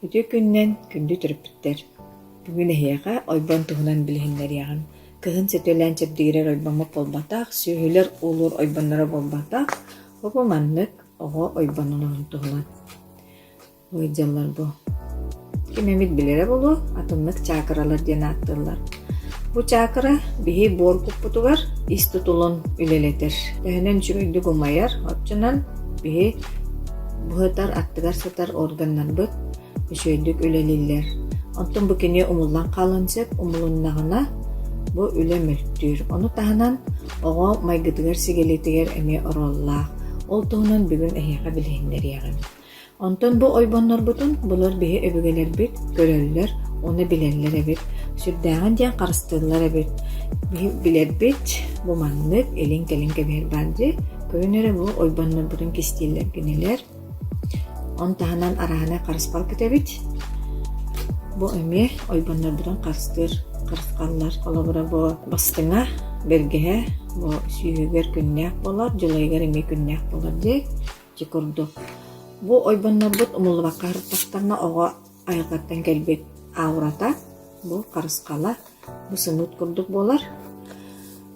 Үтүө күннэн күндү төрөппүттэр! Бүгүн эһиэхэ ойбон туһунан билиһиннэриэҕим. Кыһын сөтүөлээн чэбдигирэр ойбоммут буолбатах, сүөһүлэр уулуур ойбонноро буолбатах. Бу маннык оҕо ойбонун туһунан. ыалдьаллар дуо ким эмит билэрэ буолуо атыннык чаакыралар диэн ааттыыллар бу чаакыра биһи буор куппутугар ис тутулун үлэлэтэр төһөнөн үчүгэйдик умайар оччонон биһи быһытар аттыгар сытар органнарбыт үчүгэйдик үлэлииллэр онтон бу кини умуллан хаалан сөп умулуннаҕына бу үлэ мөлтүүр ону таһынан оҕо майгытыгар сигилитигэр эмиэ оруоллаах ол туһунан бүгүн эһиэхэ билиһиннэриэҕим Онтон бу ойбоннорбутун булар биһи өбүгэлэрбит көрөллөр, ону билэллэр эбит, сүрдээҕин диэн харыстыыллар эбит. Биһи билэрбит бу маннык илин-кэлин кэбиһэр баар дии, көрүнэ эрэ бу ойбоннорбутун кистииллэр кинилэр. Оны таһынан араһынай харыспал күтэбит. Бу эмиэ ойбоннорбутун харыстыыр харысхаллар. Холобура бу бастыҥа, бэргэһэ, бу сүүһүгэр күннээх болор, дьылайыгар эмиэ күннээх болор дии. Дьэ курдук, бу ойбоннорбут умуллубакка сырыттахтарына оҕо айылҕаттан кэлбит аурата, бу харысхала, бу сымыыт курдук буолар.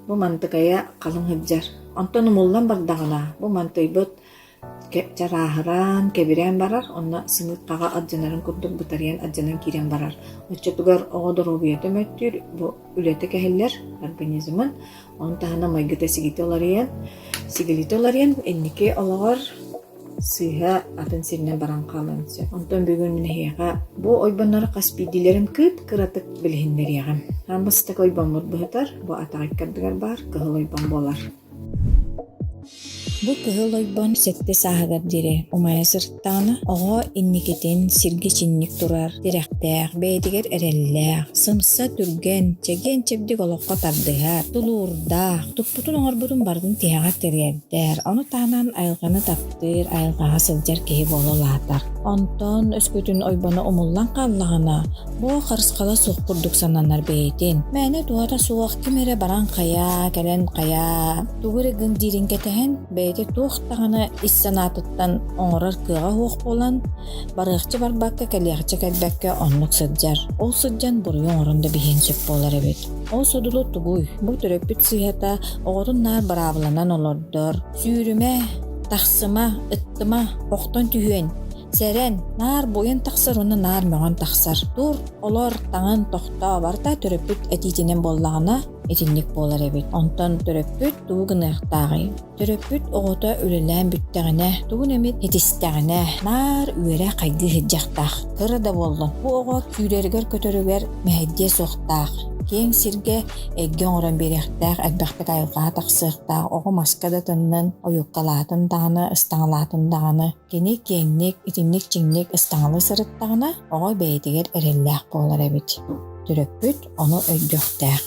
Бу мантыкайа халыҥ сылдьар. Онтон умуллан бардаҕына, бу мантыйбыт чарааһыраан, кэбирээн барар, онно сымыыт хаҕа алдьанарын курдук бытарыйан алдьанан киирэн барар. Оччотугар оҕо доруобуйата мөттүүр, бу үлэтэ кэһиллэр организмын. Оны таһынан майгыта сигити уларыйан, сигилити уларыйан инники олоҕор сыыһа атын сиринэн баран хаалыан сөп. Онтон бүгүн нэһиэхэ бу ойбоннор хас биирдиилэрин кыт кыратык билиһиннэриэҕим. Хаан бастакы ойбоммут быһытар, бу атаҕай кардыгар баар кыһыл ойбон буолар. Бу Кыһыл Ойбон сэттэ сааһыгар диэри умайа сыртаана, оҕо инникитин сиргэ чинник турар, тирэхтээх, бэйэтигэр эрэллээх, сымса, түргэн, чэгиэн-чэбдик олоххо тардыһар, тулуурдаах, туппутун-оҥорбутун барытын тиһэҕэр тириэрдэр, ону таһынан айылҕаны таптыыр, айылҕаҕа сылдьар киһи буола улаатар. Онтон өскөтүн Ойбоно умуллан хааллаҕына, Бу харысхала суох курдук сананар бэйэтин. Мээнэ туһата суох ким эрэ баран хайаа, кэлэн хайаа, тугу эрэ гын диирин кэтэһэн, бэйэтэ туох даҕаны ис санаатыттан оҥорор кыаҕа суох буолан, барыахча барбакка кэлиэхчэ кэлбэккэ оннук сылдьар. Ол сылдьан буруйу оҥорон да биһиэн сөп буолар эбит. Ол содулу тугуй? Бу төрөппүт сыыһата оҕотун наар быраабыланан олордор. Сүүрүмэ, тахсыма, ыттыма, охтон түһүөн Сэрэн, наар буойун тахсар уонна наар мөҕөн тахсар. Тур, олор таҥын тохтооборто төрөппүт этиитинэн буоллаҕына итинник буолар эбит. Онтон төрөппүт тугу гыныахтааҕый? Төрөппүт оҕото үлэлээн бүттэҕинэ, тугун эмит итистэҕинэ, наар үөрэ хайгыы сылдьыахтаах. Кыра да буоллун, бу оҕо күүрэригэр-көтөрүгэр мэһэйдиэ суохтаах. Киэҥ сиргэ эйгэ оҥорон биэриэхтээх, элбэхтик айылҕаҕа тахсыахтаах. Оҕо маска да тыннын, ойуккалаатын даҕаны, ыстаҥалаатын даҕаны Кини киэҥник, итинник-чиҥник ыстаҥалыы сырыттаҕына, оҕо бэйэтигэр эрэллээх буолар эбит. Төрөппүт ону өйдүөхтээх.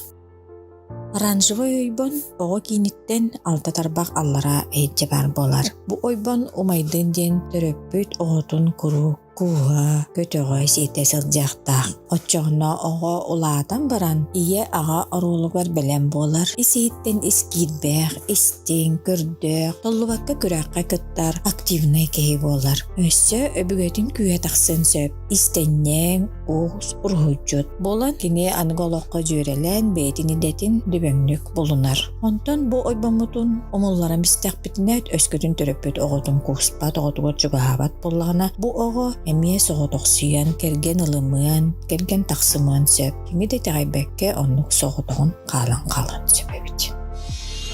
Оранжевый ойбон оҕо кииниттэн алта тарбах аллараа эйдьэ баар буолар. Бу ойбон умайдын диэн төрөппүт оҕотун куруук кууһа, көтөҕө сиэтэ сылдьыахтаах. Оччоҕуна оҕо улаатан баран ийэ аҕа оруолугар бэлэм буолар. Ис иһиттэн искиирбэх, истиҥ, көрдөөх, толлубакка күрэххэ дьахтар активнай киһи буолар. Өссө өбүгэтин күүһэ тахсыан сөп. Истэнньэҥ, уус, уруһуйдьут. Буолан кини аныгы олоххо дьүөрэлээн бэйэтин идэтин дүбөҥнүк булунар. Онтон бу ойбоммутун умулларан истэхпитинэ өскөтүн төрөппүт оҕотун кууспат, оҕотугар чугаһаабат буоллаҕына, бу оҕо эмиэ соҕотохсуйан, кэргэн ылымыан, кэргэн тахсымыан сөп. Кини да итэҕэйбэккэ оннук соҕотоҕун хаалан хаалан сөп эбит.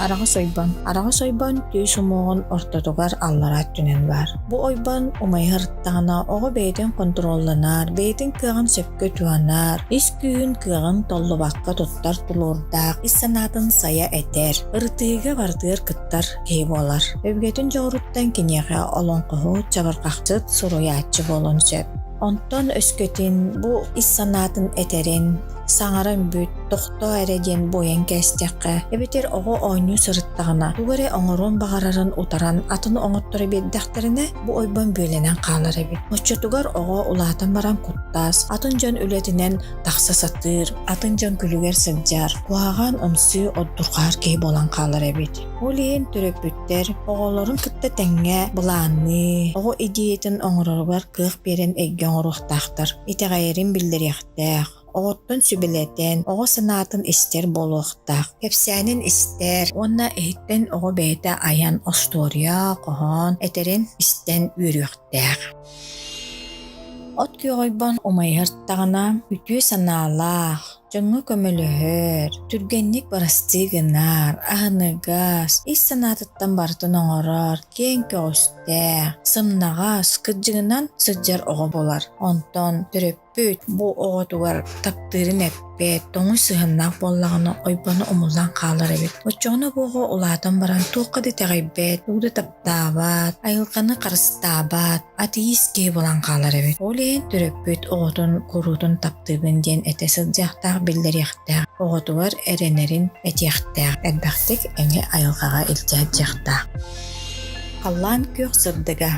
Араҕас ойбон. Араҕас ойбон түөс умуоҕун ортотугар аллараа өттүнэн баар. Бу ойбон умайа сырыттаҕына оҕо бэйэтин контролланар, бэйэтин кыаҕын сөпкө туһанар, ис күүһүн кыаҕын толлубакка туттар тулуурдаах, ис санаатын сайа этэр, ырытыыга барытыгар кыттар киһи буолар. Өбүгэтин дьоҕуруттан киниэхэ олоҥхоһут, чабырҕахчыт, суруйааччы буолуон сөп. Онтон өскөтүн бу ис санаатын этэрин, саҥара үмбүт, тохтоо эрэ диэн буойан кээстэххэ, эбэтэр оҕо оонньуу сырыттаҕына тугу эрэ оҥоруон баҕарарын утаран атын оҥотторо биэрдэхтэринэ бу ойбон бүөлэнэн хаалар эбит. Оччотугар оҕо улаатан баран куттаас, атын дьон үлэтинэн тахса сатыыр, атын дьон күлүгэр сылдьар, куһаҕан умсуу отдурҕаһар киһи буолан хаалар эбит. Ол иһин төрөппүт Эдэр оҕолорун кытта тэҥҥэ былаанныы, оҕо идеятын оҥороругар кыах биэрэн эйгэ оҥоруохтаахтар. Итэҕэйэрин биллэриэхтээх. Оҕоттон сүбэлэтэн, оҕо санаатын истэр буолуохтаах. Кэпсээнин истэр уонна иһиттэн оҕо бэйэтэ айан остуоруйа, хоһоон этэрин истэн үөрүөхтээх. От күөҕүйбон умайыһартаҕына үтүө санаалаах, Дьоҥҥо көмөлөһөр, түргэнник бырастыы гынар, аһыныгас, ис санаатыттан барытын оҥорор, киэҥ көҕүстээх, сымнаҕас, кыддьыгынан сылдьар оҕо буолар. Онтон төрөппүт бу оҕотугар таптыырын эппэт, тоҥус сыһыннаах буоллаҕына ойбоно умуллан хаалар эбит. Оччоҕуна бу оҕо улаатан баран туохха да итэҕэйбэт, тугу да таптаабат, айылҕаны харыстаабат, Атеист киһи булан хаалар эбит. Ол иһин төрөппүт оҕотун куруутун таптыыбын диэн этэ сылдьыахтаах, биллэриэхтээх. Оҕотугар эрэнэрин этиэхтээх. Элбэхтик эҥи айылҕаҕа илдьэ сылдьыахтаах. Халлаан күөх сырдыга.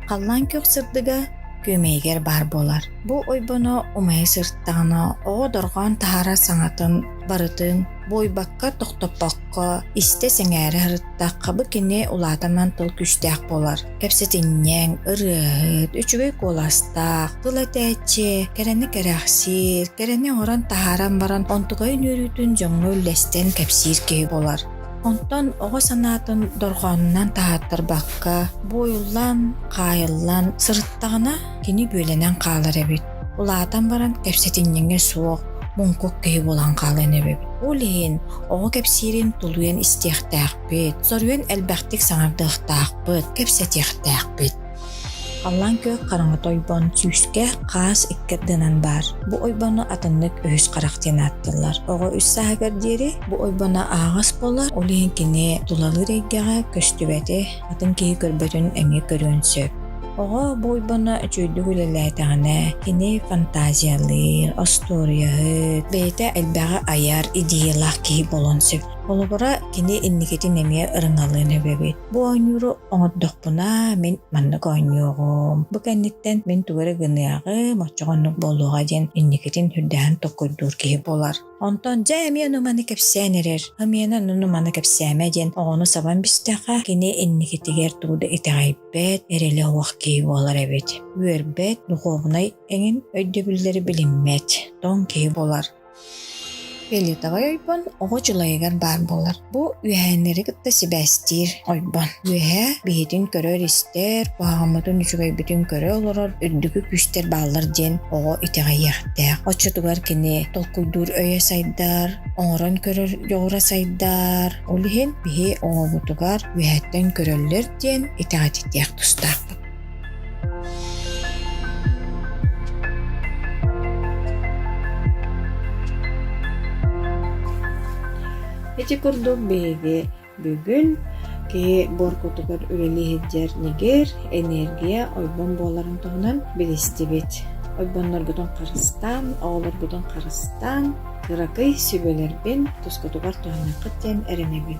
Халлаан күөх сырдыга күөмэйигэр баар буолар. Бу ойбоно умайа сыртаҕына оҕо дорҕоон таһаарар саҥатын барытын буойбакка тохтоппокко истэ сэҥээрэ сырыттахха бу кини улаатаннан тыл күүстээх буолар. Кэпсэтинньэҥ, ырыаһыт, үчүгэй куоластаах, тыл этээччи, кэрэни кэрэхсиир, кэрэни оҥорон таһааран баран онтукайын үөрүүтүн дьоҥҥо үллэстэн кэпсиир киһи буолар. Онтон оҕо санаатын дорҕоонунан таһаартарбакка, буойуллан, хаайыллан сырыттаҕына кини бүөлэнэн хаалар эбит. Улаатан баран кэпсэтинньэҥэ суох, муҥкук киһи буолан хаалан эбит. Ол иһин оҕо кэпсиирин тулуйан истиэхтээх. Бүт, соруйан элбэхтик саҥардыахтаахпыт, кэпсэтиэхтээхпит. Халлаан күөх хараҥата ойбон сүүскэ хаас икки ардынан баар. Бу ойбону атыннык үһүс харах диэн ааттыыллар. Оҕо үс сааһыгар диэри бу ойбоно аһаҕас буолар, ол иһин кини тулалыыр эйгэҕэ көстүбэти, атын киһи көрбөтүн эмиэ көрүөн сөп. Оҕо бу ойбоно үчүгэйдик үлэлээтэҕинэ, кини фантазиялыыр, остуоруйаһыт, бэйэтэ элбэҕи айар, идеялаах киһи буолуон сөп. Холобура, кини инникитин эмиэ ырыҥалыан сөп эбит. Бу оонньууру оҥордохпуна, мин маннык оонньуоҕум. Бу кэнниттэн мин тугу эрэ гыныаҕым, оччоҕо оннук буолуоҕа диэн инникитин үрдээн токкойдуур киһи буолар. Онтон дьэ эмиэ ону-маны кэпсээн эрэр. Амиана ону-маны кэпсээмэ диэн оҕону сабан истэххэ, кини инникитигэр тугу да итэҕэйбэт, эрэлэ суох киһи буолар эбит. Үөрбэт, духуобунай эҥин өйдөбүллэри билиммэт, тоҥ киһи буолар. Фиолетовай ойбон оҕо дьулайыгар баар буолар. Бу үөһээннэри кытта сибээстиир ойбон. Үөһээ биһитин көрөр-истэр, куһаҕаммытын үчүгэйбитин көрө олорор үрдүкү күүстэр бааллар диэн оҕо итэҕэйиэхтээх. Оччотугар кини толкуйдуур өйө сайдар, оҥорон көрөр дьоҕура сайдар. Ол иһин биһи оҕобутугар үөһэттэн көрөллөр диэн итэҕэтиниэх тустаахпыт. Ити курдук биһиги бүгүн киһи буоркутугар үлэлии сылдьар ньигир, энергия, ойбон буоларын туһунан билистибит. Ойбонноргутун харыстаан, оҕолоргутун харыстаан, кыракый сүбэлэрбин тускутугар туһаныаххыт диэн эрэнэбин.